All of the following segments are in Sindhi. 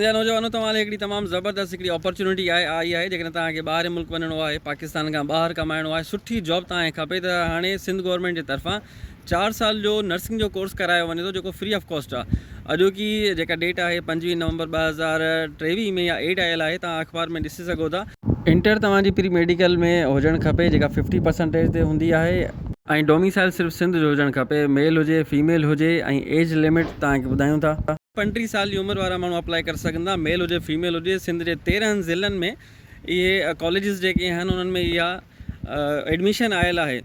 جا نوجوانو توهان لاء هڪڙي تمام زبردست هڪڙي اپرچونٽي آهي آئي آهي جيڪڏهن توهان کي ٻاهرين ملڪ وڃڻو آهي پاڪستان کان ٻاهر ڪمائڻو آهي سٺي جاب توهان کي کپي ته هاڻي سنڌ گورنمينٽ جي طرفان چار سال جو نرسنگ جو ڪورس ڪرايو وڃي ٿو جيڪو فري آف ڪاسٽ آهي اڄوڪي جيڪا ڊيٽ آهي پنجويهه نومبر ٻه هزار ٽيويهه ۾ اها ايڊ آيل آهي توهان اخبار ۾ ڏسي سگهو ٿا. انٽر توهان جي پري ميڊيڪل ۾ هجڻ کپي جيڪا ففٽي پرسنٽيج تي هوندي آهي. ۽ ڊوميسائل صرف سنڌ جو هجڻ کپي ميل هجي فيميل هجي ۽ ايج لمٽ توهان کي ٻڌايون ٿا. پنٽيهه سال جي عمر وارا ماڻهو اپلائي ڪري سگهندا ميل هجي فيميل هجي سنڌ جي تيرنهن ضلعن ۾ اهي ڪاليجز جيڪي آهن انهن ۾ اها ايڊميشن آيل آهي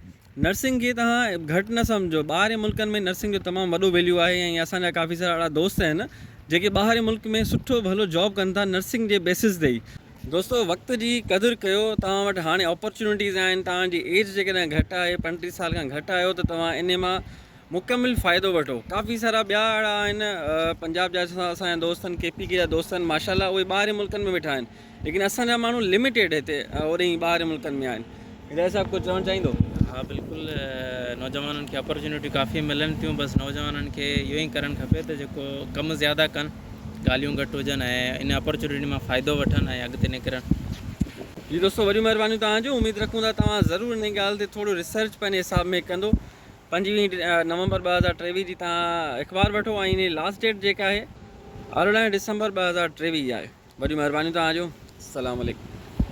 نرسنگ کي توهان گهٽ نه سمجهو ٻاهرين ملڪن ۾ نرسنگ جو تمام وڏو ويليو آهي ۽ اسان جا ڪافي سارا اهڙا دوست آهن جيڪي ٻاهرين ملڪ ۾ سٺو ڀلو جاب ڪن ٿا نرسنگ جي بيسز تي ئي دوستو وقت جي قدر ڪيو توهان وٽ هاڻي اپرچونيٽيز آهن توهان جي ايج جيڪڏهن گهٽ آهي پنٽيهه سال کان گهٽ آهيو ته توهان انهي مان مڪمل فائدو وٺو ڪافي سارا ٻيا اھڙا آھن پنجاب جا اسان جا دوستن ڪي پي ڪي جا دوست آھن ماشاءالله اھي ٻاھرين ملڪن ۾ ويٺا آھن ليڪن اسان جا ماڻھو لميٽيڊ ھتي اوري ٻاھرين ملڪن ۾ آھن ھدايت صاحب ڪجھ چوڻ چاھيندو ھا بلڪل نوجوانن کي اپرچونيٽي ڪافي ملن ٿيون بس نوجوانن کي اھو ئي ڪرڻ کپي ته جيڪو ڪم زياده ڪن ڳالھيون گھٽ ھجن ۽ ان اپرچونيٽي مان فائدو وٺن ۽ اڳتي نڪرن جي دوستو وڏيون مھربانيون توھان جون اميد رکون ٿا توھان ضرور ان ڳالھ تي ٿورو ريسرچ پنھنجي حساب ۾ ڪندو پنجويهه نومبر ٻه هزار ٽيويهه جي تان اخبار وٺو ۽ انهي لاسٽ ڊيٽ جيڪا آهي ارڙهن ڊسمبر ٻه هزار ٽيويهه جي آهي وڏيون مهربانيون توهان جو السلام عليڪم.